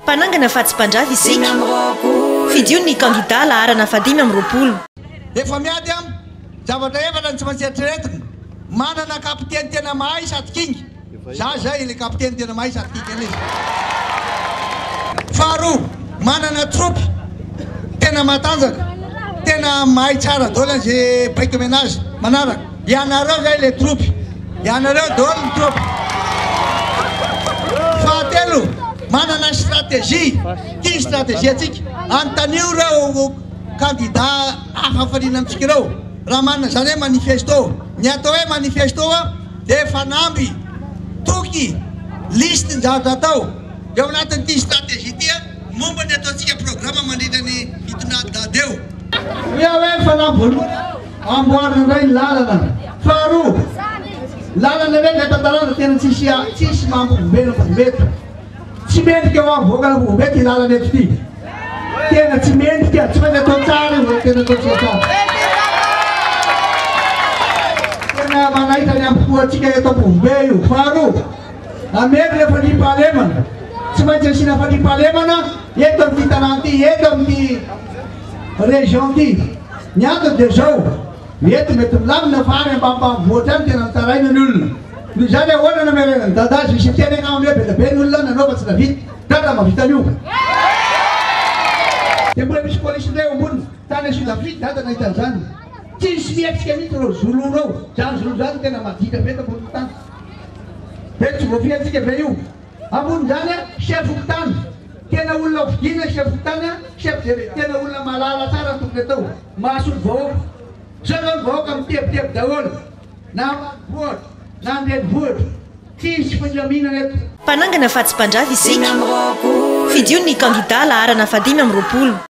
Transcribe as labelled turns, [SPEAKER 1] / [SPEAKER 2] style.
[SPEAKER 1] Mpanangana fa tsy mpandrava isika. Fidio ny kandidà laharana fahadimy amby roapolo. Efa miady
[SPEAKER 2] am, zavatra efatra ny tsy maintsy eritreretina, manana kapiteny tena mahay sady kinga, za zay ilay kapiteny tena mahay sady kinga ilay izy. Faharoa, manana tropy tena matanjaka, tena mahay tsara daholo an ze baiko omena azy manaraka. Ianareo zay le tropy. Ianareo dol ny tropy. Fahatelo, manana stratégie. Ty stratégie antsika. Anontanio reo kandida hafa fariana amintsika reo raha manana zany hoe manifesto. Ny atao hoe manifesto dia fanamby, toky, liste ny zavatra atao. Eo anatin ty stratégie ty momba ny ataontsika programme mandritra ny fitondrana dada eo. Ny hoe fanamby voalohany. Amboarina indray ny lalana. Faharoa, lalana indray ilay tantarana tena tsisy tsisy maha Ampovobe Ampovobeto. Tsy mendrika ho avoakana Ampovobeto ity lalana eto ity. Tena tsy mendrika, tsy maintsy atao tsara io, tena atao tsara tsara. Tena manaitra ny ampofoantsika eto Ampovobe io. Faharoa, ameno ilay fandriampahalemana. Tsy maintsy asiana fandriampahalemana eto amin'ity tanàna ity, eto amin'ity Régente, Ny antony dia izao, eto mety milamina fa any ambanimbanivohitra any tena mitaraina ny olona. Noho izany ahoana no amerenan'i Dada azy hisy hiteny agnaminy hoe be dia be ny olona nanao fa tsy nahavita. Dada mahavita an'io. Dia mbola misy polisy indray eo ambony. Tany Sud Afrique Dada nahita an'izany. Tsy nisy nihetsika mihitsy ireo Zoulou ireo. Izany Zoulou izany tena maditra be eto ambonin'ny tany. Ve tsy voafihantsika ve io? Ambonindrany a, chef fokontany, tena olona ho fidiana chef fokontany a, chef de village tena olona mahalala tsara ny tokony atao, mahasolo vahoaka. Zao zao ny vahoaka mitebiteby daholo na ambanivohitra na an-drenivohitra, tsisy filaminana eto. Mpanangana fa tsy
[SPEAKER 1] mpandrava isika. Fidio ny kandida laharana fahadimy amby roapolo.